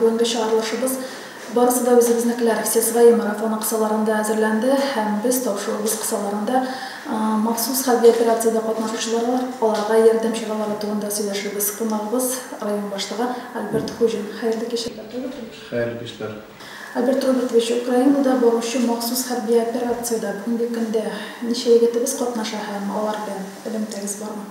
Бүгенге чыгарылышыбыз Барысы да үзебезнекеләр, все свои марафоны кысаларында әзерләнде һәм без тапшыруыбыз кысаларында махсус хәрби операциядә катнашучыларга, аларга ярдәм чаралары турында сөйләшербез. Кунагыбыз, район башлыгы Альберт Хуҗин. Хәерле кич, Альберт Робертович! Хәерле кичләр! Альберт Робертович, Украинада баручы махсус хәрби операциядә бүгенге көндә ничә егетебез катнаша һәм алар белән элемтәгез бармы?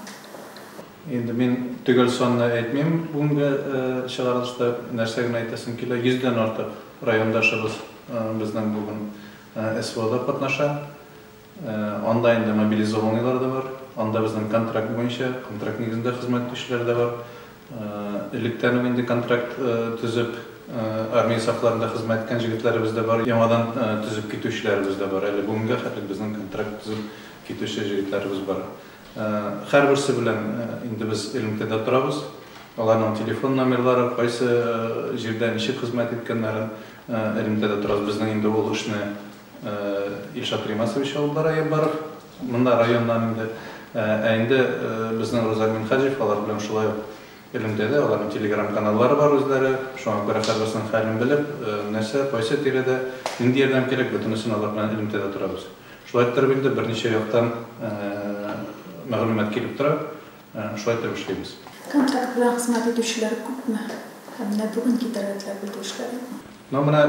Инде мин төгәл санны әйтмим, бүгенге чыгарылышта нәрсә генә әйтәсем килә, 100 дән артык райондашыбыз безнең бүген СВОда катнаша. Анда инде мобилизованныйлар да бар, анда безнең контракт буенча, контракт нигезендә хезмәт итүчеләр дә бар. Электән үк инде контракт төзеп, армия сафларында хезмәт иткән җегетләребез дә бар, яңадан төзеп китүчеләребез дә бар. Әле бүгенгә хәтле безнең контракт төзеп китүче җегетләребез бар. Һәрберсе белән инде без элемтәдә торабыз. Аларның телефон номерлары, кайсы җирдә ничек хезмәт иткәннәрен элемтәдә торабыз. Безнең инде ул эшне Илшат Римасович алып бара я барып, монда районнан инде. Ә инде безнең Рузаль Минһаҗев алар белән шулай ук элемтәдә, аларның телеграм каналлары бар үзләре. Шуңа күрә һәрберсенең хәлен белеп, нәрсә, кайсы тирәдә, нинди ярдәм кирәк, бөтенесен алар белән элемтәдә торабыз. Шулай иттереп инде берничә яктан мәгълүмат килеп тора, шулай итеп эшлибез. Контракт белән хезмәт итүчеләр күпме? Һәм менә бүген китәргә теләп өлгерешләр юкмы? Ну менә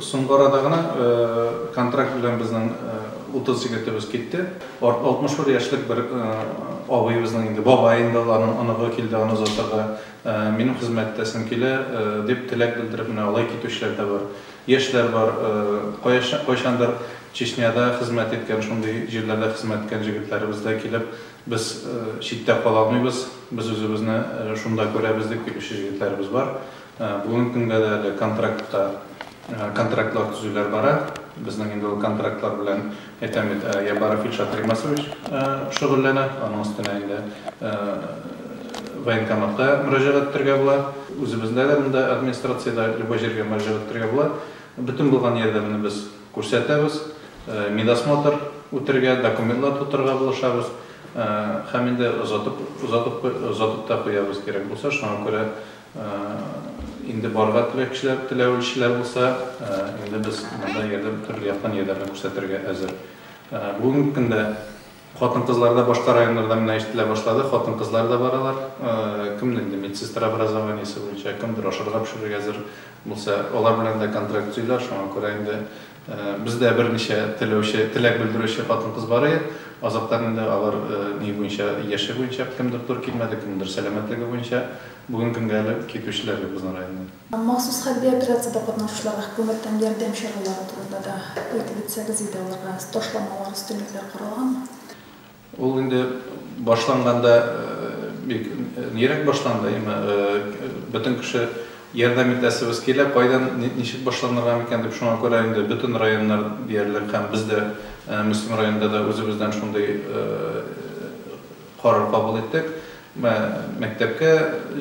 соңгы арада гына контракт белән безнең 30 егетебез китте. 61 яшьлек бер абыебызның инде, бабай инде ул, аның оныгы килде аны озатырга. Минем хезмәттәшем килә, дип теләк белдереп менә алай китүчеләр дә бар. Яшьләр бар, кая кайчандыр Чечняда хезмәт иткән, шундый җирләрдә хезмәт иткән җегетләребез дә килеп, без читтә кала алмыйбыз, без үзебезне шунда күрәбез дип килүче җегетләребез бар. Бүгенге көнгә дә әле контрактта контрактлар төзүләр бара. Безнең инде ул контрактлар белән Әйтәм бит, Ябаров Ильшат Римасович шөгыльләнә, аның өстенә инде военкоматка мөрәҗәгать итәргә була. Үзебездә дә монда администрациядә любой җиргә мөрәҗәгать итәргә була. Бөтен булган ярдәмне без күрсәтәбез, медосмотр үтәргә, документлар тутырырга булышабыз һәм инде озатып озатып озатып та куябыз, кирәк булса, шуңа күрә. Инде барырга теләкчеләр, теләүчеләр булса, инде без монда ярдәм, төрле яктан ярдәмне күрсәтергә әзер. Бүгенге көндә хатын-кызлар да башка районнардан менә ишетелә башлады, хатын-кызлар да баралар. Кемне инде медсестра образованиесе буенча, кемдер ашарга пешерергә әзер булса, алар белән дә контракт төзиләр, шуңа күрә инде. Бездә берничә теләүче, теләк белдерүче хатын-кыз бар иде. Азактан инде алар ни буенча, яше буенча, кемдер тур килмәде, кемдер сәламәтлеге буенча бүгенге көнгә әле китүчеләр юк безнең районнан. Махсус хәрби операциядә катнашучыларга хөкүмәттән ярдәм чаралары турында да әйтеп үтсәгез иде, аларга ташламалар, өстенлекләр каралганмы? Ул инде башланганда бик нирәк башланды, яме бөтен кеше ярдәм итәсебез килә, кайдан, ничек башланырга микән дип, шуңа күрә инде бөтен районнар диярлек һәм без дә Мөслим районында да үзебездән шундый карар кабул иттек. Мәктәпкә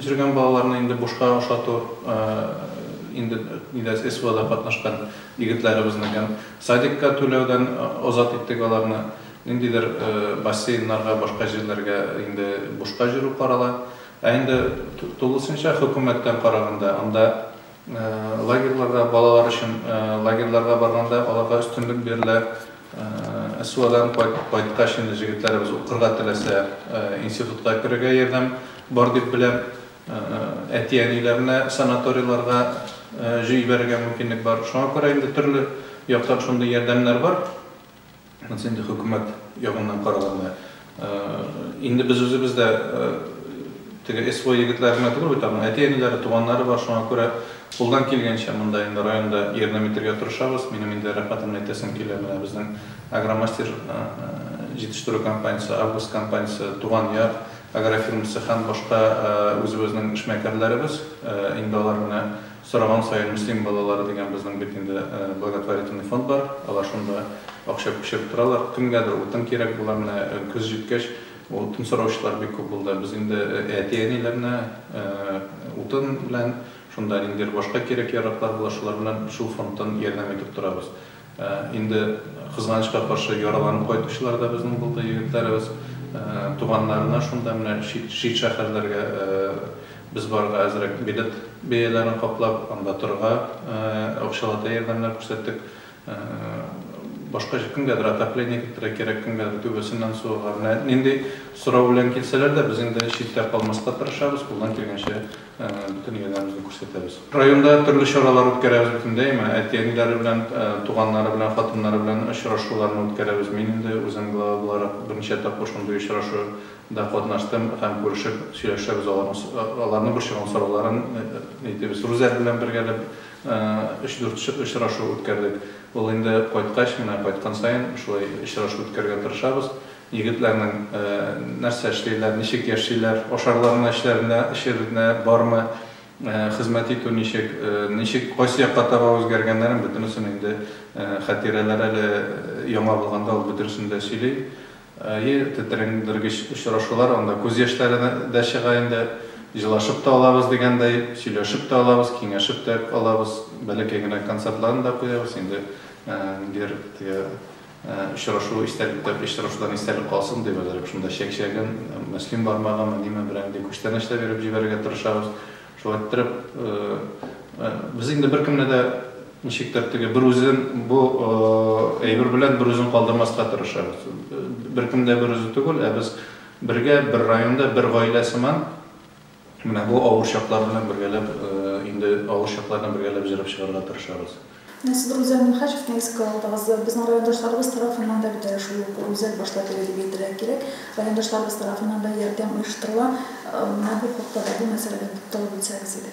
җөргән балаларны инде бушка ашату инде нидә СВОда катнашкан егетләребезнекен садикка түләүдән азат иттек аларны. Ниндидер бассейннарга, башка җирләргә инде бушка җөрү карала. Ә инде тулысынча хөкүмәттән караганда, анда лагерьларга, балалар өчен лагерьларга барганда аларга өстенлек бирелә. СВОдан кайткач инде җегетләребез укырга теләсә, институтка керергә ярдәм бар дип беләм. Әти-әниләренә санаторийларга җибәрергә мөмкинлек бар. Шуңа күрә инде төрле яктан шундый ярдәмнәр бар. Монысы инде хөкүмәт ягыннан караганны. Инде без үзебез дә теге СВО егетләре генә түгел бит, аның әти-әниләре, туганнары бар, шуңа күрә кулдан килгәнчә монда инде районда ярдәм итәргә тырышабыз. Минем инде рәхмәт генә әйтәсем килә, менә безнең Агромастер җитештерү компаниясе, Август компаниясе, Туган яр агрофирмасы һәм башка үзебезнең эшмәкәрләребез, инде алар менә Сораган саен Мөслим балалары дигән безнең бит инде благотворительный фонд бар, алар шунда акча күчереп торалар. Кемгәдер утын кирәк була, менә көз җиткәч, утын сораучылар бик күп булды. Без инде әти-әниләрне утын белән, шунда ниндидер башка кирәк-яраклар була, шулар белән шул фондтан ярдәм итеп торабыз. Инде кызганычка каршы яраланып кайтучылар да безнең булды, егетләребез. Туганнарына шунда менә чит шәһәрләргә без барырга әзрәк билет бәяләрен каплап, анда торырга акчалата ярдәмнәр күрсәттек. Башка кемгәдер отопление кертергә кирәк, кемгәдер түбәсеннән су ага. Менә нинди сорау белән килсәләр дә, без инде читтә калмаска тырышабыз, кулдан килгәнчә Әнә, бөтен ияләребезне күрсәтәбез. Районда төрле чаралар үткәрәбез бөтендәйме. Әти-әниләре белән, туганнары белән, хатыннары белән очрашуларны үткәрәбез. Мин инде үзем глава буларак берничә тапкыр шундый очрашу да катнаштым һәм күрешеп сөйләшәбез, аларның аларны борчыган сорауларын әйтебез. Рүзәл белән бергәләп өч-дүрт очрашу үткәрдек. Ул инде кайткач, менә кайткан саен шулай очрашу үткәрергә тырышабыз. Егетләрнең нәрсә эшлиләр, ничек яшиләр, ашарлармы, эчләренә, эчеренә бармы, хезмәт итү ничек, ничек, кайсы якка таба үзгәргәннәрен бөтенесен инде Хәтирәләр әле яңа булганда ул бөтенесен дә сөйли. Әйе, тетрәндергеч очрашулар, анда күз яшьләре дә чыга инде. Җылашып та алабыз дигәндәй, сөйләшеп тә алабыз, киңәшеп тә алабыз. Бәләкәй генә концертларын да куябыз. Инде ниндидер теге Очрашу истәлектә, очрашудан истәлек калсын дип, әзрәк шунда чәкчәген, мөслим бармагымы, ниме, берәр нинди күчтәнәч тә биреп җибәрергә тырышабыз. Шулай иттереп, без инде беркемне дә, ничектер, теге бер үзен бу әйбер белән бер үзен калдырмаска тырышабыз. Беркем дә бер үзе түгел, ә без бергә, бер районда, бер гаилә сыман. Менә бу авыр чаклар белән бергәләп, инде авыр чаклар белән бергәләп җырап чыгарга тырышабыз. Менә сез Рузел Мөхәчевне искә алдыгыз. Безнең райондашларыбыз тарафыннан да бит әле шул ук Рузел башта теге дип әйтергә кирәк. Райондашларыбыз тарафыннан да ярдәм оештырыла. Менә бу хакта да, бу мәсьәләдә тукталып үтсәгез иде.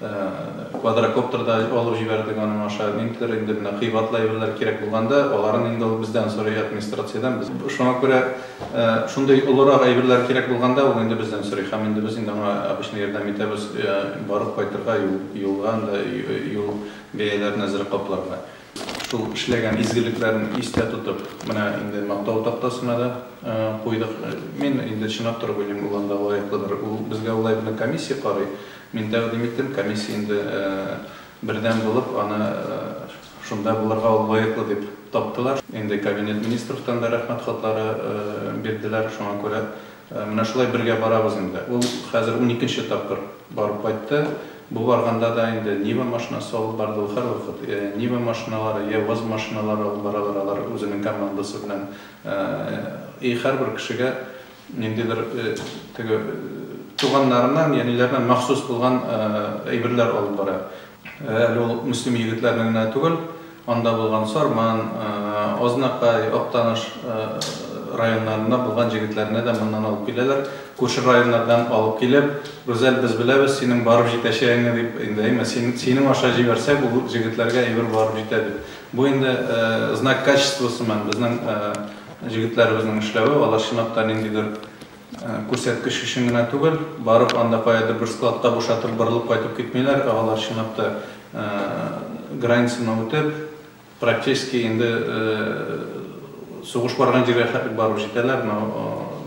Квадрокоптер да алып җибәрдек аның аша. Ниндидер инде менә кыйбатлы әйберләр кирәк булганда, аларын инде ул бездән сорый, администрациядән. Без шуңа күрә шундый олырак әйберләр кирәк булганда, ул инде бездән сорый. Һәм инде без инде аңа обычно ярдәм итәбез, барып кайтырга, юлга анда юл бәяләрен әзрәк капларга. Шул эшләгән изгелекләрен истә тотып, менә инде мактау тактасына да куйдык. Мин инде чынлап торып уйлыйм, ул анда лаеклыдыр. Ул безгә улай белән комиссия карый. Мин тәкъдим иттем, комиссия инде бердәм булып, аны шунда булырга ул лаеклы дип таптылар. Инде Кабинет Министровтан да рәхмәт хатлары бирделәр, шуңа күрә менә шулай бергә барабыз инде. Ул хәзер уникенче тапкыр барып кайтты. Бу барганда да инде Нива машинасы алып барды, ул һәрвакыт йә Нива машиналары, йә ВАЗ машиналары алып баралар, алар үзенең командасы белән. И һәрбер кешегә Ниндидер теге туганнарыннан, яниләреннән махсус булган әйберләр алып бара. Әле ул мөслим егетләрне генә түгел, анда булган Сарман, Азнакай, Актаныш районнарыннан булган җегетләрне дә моннан алып киләләр. Күрше районнардан алып килеп, Рүзәл, без беләбез синең барып җитәчәгеңне, дип, инде әйме, син, синең аша җибәрсәк, ул җегетләргә әйбер барып җитә, дип. Бу инде знак качествосымы, безнең Җегетләребезнең эшләве, алар чынлап та ниндидер күрсәткеч өчен генә түгел, барып анда каядыр бер складта бушатып, борылып кайтып китмиләр, ә алар чынлап та границаны үтеп, практически инде сугыш барган җиргә хәтлек барып җитәләр, но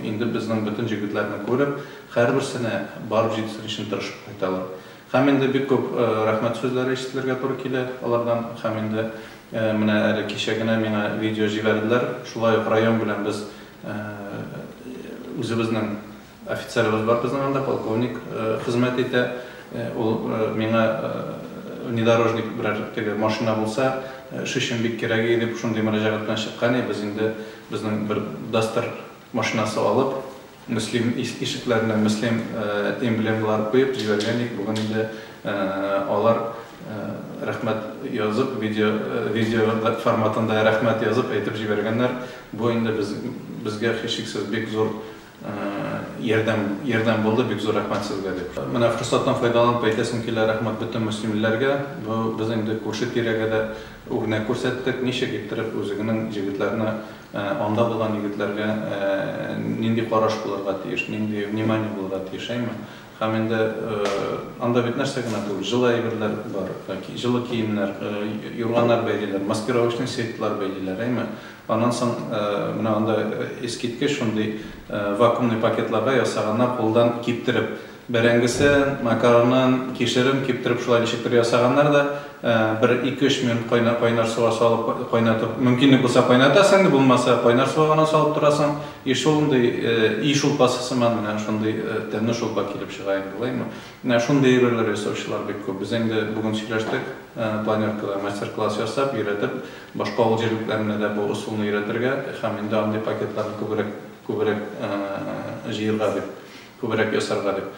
инде безнең бөтен җегетләрне күреп, һәрберсенә барып җитсен өчен тырышып кайталар. Һәм инде бик күп рәхмәт сүзләре ишетелергә туры килә алардан. Һәм инде менә әле кичә генә миңа видео җибәрделәр. Шулай ук район белән без үзебезнең офицерыбыз бар безнең анда, полковник хезмәт итә. Ул миңа внедорожник берәр теге машина булса, эш өчен бик кирәге дип шундый мөрәҗәгать белән чыккан и без инде безнең бер Duster Машинасы алып, Мөслим ишекләренә Мөслим эмблемалары куеп җибәргән идек, бүген инде алар рәхмәт язып, видео форматында рәхмәт язып әйтеп җибәргәннәр. Бу инде безгә һичшиксез бик зур ярдәм булды, бик зур рәхмәт сезгә дип. Менә форсаттан файдаланып әйтәсем килә, рәхмәт бөтен мөслимлеләргә. Без инде күрше-тирәгә дә үрнәк күрсәттек, ничек иттереп үзеңнең җегетләрне Анда булган егетләргә нинди караш булырга тиеш, нинди внимание булырга тиеш, әйме? Һәм инде анда бит нәрсә генә түгел, җылы әйберләр бар, җылы киемнәр, юрганнар бәйлиләр, маскировочный сетьлар бәйлиләр, әйме? Аннан соң менә анда искиткеч шундый вакуумный пакетларга ясаганнар, кулдан киптереп, Бәрәңгесен, макаронын, кишерен киптереп шулай ничектер ясаганнар да, бер ике-өч минут кайнар суга салып кайнатып, мөмкинлек булса кайнатасың, булмаса кайнар суга гына салып торасың, и шундый и шулпасы сыман менә шундый тәмле шулпа килеп чыга инде, булаймы? Менә шундый әйберләр ясаучылар бик күп. Без инде бүген сөйләштек, планеркада мастер-класс ясап, өйрәтеп, башка авыл җирлекләренә дә бу ысулны өйрәтергә һәм инде андый пакетларны күбрәк җыерга дип. Күбрәк ясарга дип.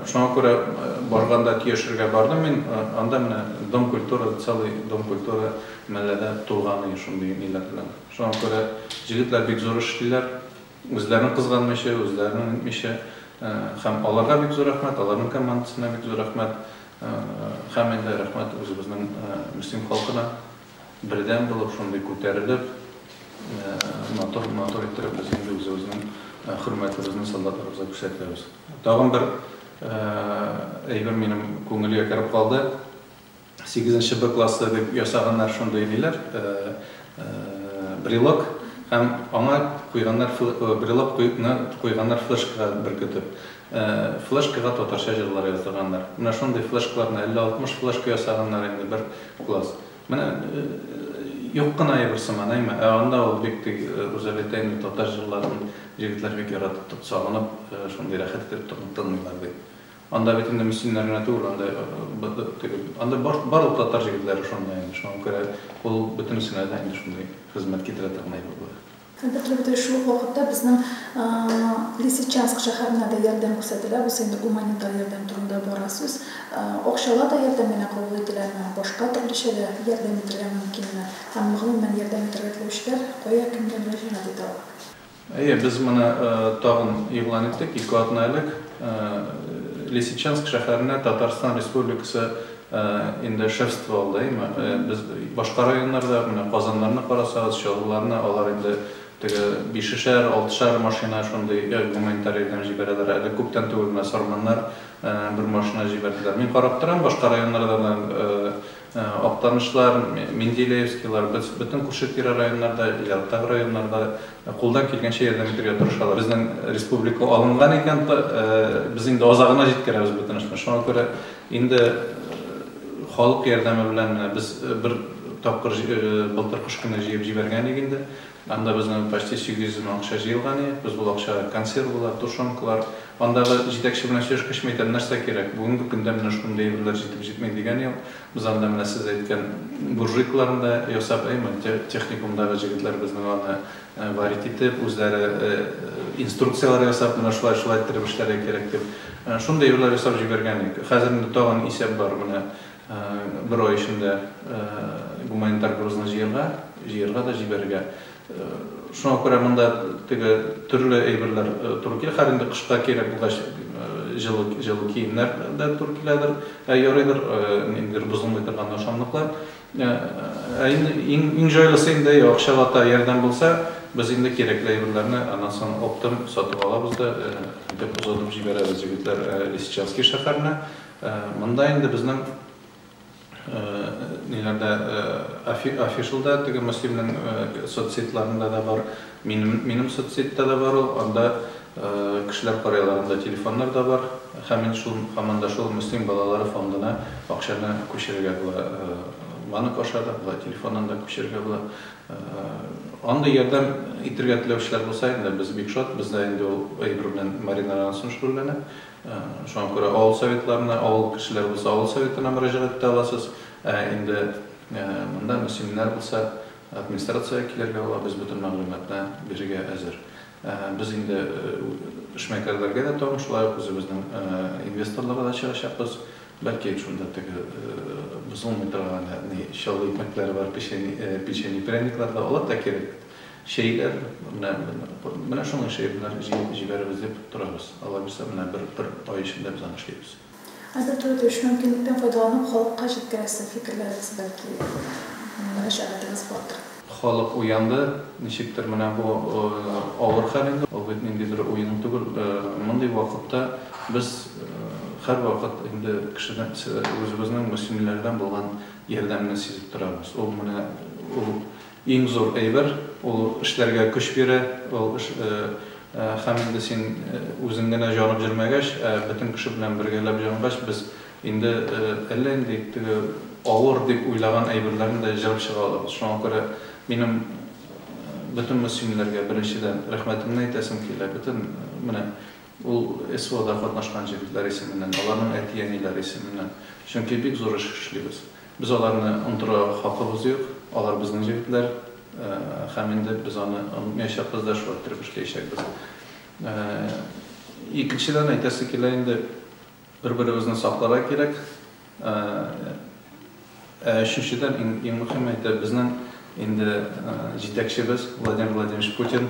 Шуңа күрә барганда Тиешергә бардым мин, анда менә Дом культуры, целый Дом культуры мәлләдә тулган иде шундый ниләр белән. Шуңа күрә җегетләр бик зур эш эшлиләр, үзләрен кызганмыйча, үзләренең итмичә. Һәм аларга бик зур рәхмәт, аларның командасына бик зур рәхмәт. Һәм инде рәхмәт үзебезнең Мөслим халкына. Бердәм булып шундый күтәрелеп, матур, матур иттереп без инде үзебезнең хөрмәтебезне солдатларыбызга күрсәтәбез. Тагын бер әйбер минем күңелгә кереп калды. Сигезенче Б классы дип ясаганнар шундый ниләр, брелок һәм аңа куйганнар брелок куйганнар флешкага беркетеп. Флешкага татарча җырлар яздырганнар. Менә шундый флешкаларны 50-60 флешка ясаганнар инде бер Класс. Менә юк кына әйбер сыман, әйме? Ә анда ул бик тик Рузалетәйнең татар җырларын җегетләр бик яратып тот сагынып, шундый рәхәт итеп тын тыңлыйлар ди. Анда бит инде мөслимнәр генә түгел, анда теге анда бар барлык татар җегетләре шунда инде, шуңа күрә ул бөтенесенә дә инде шундый хезмәт китерә торган әйбер була. Һәм бетлек дә шул ук вакытта безнең Лисичанск шәһәренә дә ярдәм күрсәтелә. Бусы инде гуманитар ярдәм турында бара сүз. Акчала да ярдәм генә кабул ителәме, башка төрлечә дә ярдәм итергә мөмкинме? Һәм гомумән ярдәм итергә теләүчеләр кая, кемгә мөрәҗәгать итә алар? Әйе, без моны тагын игълан иттек, ике атна элек Лисичанск шәһәренә Татарстан Республикасы Инде шефство алдаймы? Без башка районнарда, менә Казаннарны карасагыз, Чаллыларны, алар инде теге бишешәр, алтышар машина шундый гуманитар ярдәм җибәрәләр. Әле күптән түгел менә Сарманнар бер машина җибәрделәр. Мин карап торам, башка районнардан да Актанышлар, Менделеевскийлар, без бөтен күрше-тирә районнарда, ерактагы районнарда кулдан килгәнчә ярдәм итәргә тырышалар. Безнең республика алынган икән, без инде азагына җиткерәбез бөтенесен. Шуңа күрә Инде халык ярдәме белән менә без бер тапкыр былтыр кыш көне җыеп җибәргән идек инде. Анда безнең почти 800 мең акча җыелган иде. Без ул акчага консервалар, тушенкалар, андагы җитәкче белән сөйләшкәч, мин әйтәм, нәрсә кирәк, бүгенге көндә менә шундый әйберләр җитеп җитми дигән юк. Без анда менә сез әйткән буржуйкаларны да ясап, әй, техникумдагы җегетләр безнең аны Варить итеп, үзләре инструкцияләр ясап, менә шулай, шулай иттереп эшләргә кирәк дип, шундый юллар ясап җибәргән идек. Хәзер инде тагын исәп бар, менә бер ай эчендә гуманитар грузны җыярга, җыярга да җибәрергә. Шуңа күрә монда теге төрле әйберләр туры килә. Хәзер инде кышка кирәк булгач, җылы, җылы киемнәр дә туры киләдер. Ә ярыйдыр, ниндидер бозылмый торган ашамлыклар. Ә инде иң җайлысы инде акчага та ярдәм булса, без инде кирәкле әйберләрне аннан соң оптом сатып алабыз да әйдәп озатып җибәрәбез, егетләр, Лисичанский шәһәренә. Монда инде безнең ниләрдә, афишалда, теге Мөслимнең соцсетьларында да бар. Минем минем соцсетьта да бар ул, анда кешеләр карыйлар, анда телефоннар да бар. Һәм мин шул һаман да шул Мөслим балалары фондына акчаны күчерергә була. Банк аша да була, телефоннан да күчерергә була. Андый ярдәм итергә теләүчеләр булса, инде без бик шат, бездә инде ул әйбер белән Марина Рансон шөгыльләнә. Шуңа күрә авыл советларына, авыл кешеләре булса, авыл советына мөрәҗәгать итә аласыз. Ә инде монда мөслимнәр булса, Администрациягә килергә була, без бөтен мәгълүматны бирергә әзер. Без инде эшмәкәрләргә дә тагын шулай ук үзебезнең инвесторларга да чыгачакбыз. Бәлки шунда теге бозылмый торган ни чаллы икмәкләре бар, печени, печени, пряниклар да, алар да кирәк. Чәйләр, менә, менә шуның эшли, менә җыеп җибәрербез дип торабыз. Алай булса, менә бер, бер ай эчендә без аны эшлибез. Хәзер туры килеш мөмкинлектән файдаланып халыкка җиткерәсе фикерләрегез бәлки мөрәҗәгатегез бардыр. Халык уянды, ничектер менә бу авыр хәл инде, ул бит ниндидер уен түгел, мондый вакытта без һәрвакыт инде кешедән үзебезнең мөслимиләрдән булган ярдәмне сизеп торабыз, ул менә ул Иң зур әйбер, ул эшләргә көч бирә, ул һәм инде син үзең генә җанып җөрмәгәч, ә бөтен кеше белән бергәләп җангач, без инде әллә нинди теге авыр дип уйлаган әйберләрне дә җырып чыга алабыз. Шуңа күрә минем бөтен мөслимләргә беренчедән рәхмәтемне әйтәсем килә, бөтен менә Ул СВОда катнашкан җегетләр исеменнән, аларның әти-әниләре исеменнән. Чөнки бик зур эш эшлибез. Без аларны онтырга хакыбыз юк. Алар безнең җегетләр һәм инде без аны онытмаячакбыз да, шулай иттереп эшләячәкбез. Икенчедән әйтәсе килә инде. Бер-беребезне сакларга кирәк. Ә өченчедән, иң мөһиме, әйтәр, безнең инде җитәкчебез Владимир Владимирович Путин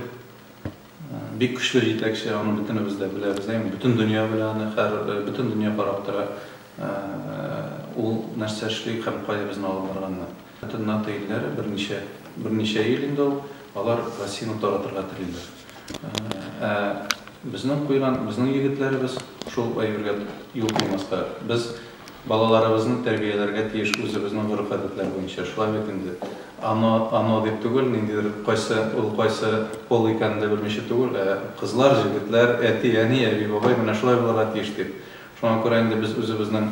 бик көчле җитәкче, аны бөтенебез дә беләбез, әйеме? Бөтен дөнья белә аны, хәзер бөтен дөнья карап тора, ул нәрсә эшли һәм кая безне алып барганына. Бөтен НАТО илләре берничә, берничә ел инде ул, алар Россияне таратырга телиләр. Ә безнең куйган, безнең егетләребез шул әйбергә юл куймаска. Без балаларыбызны тәрбияләргә тиеш үзебезнең гореф-гадәтләр буенча. Шулай бит инде. Ано, ано дип түгел, ниндидер кайсы ул, кайсы пол икәнен дә белмичә түгел, ә кызлар, җегетләр, әти, әни, әби, бабай менә шулай булырга тиеш дип. Шуңа күрә инде без үзебезнең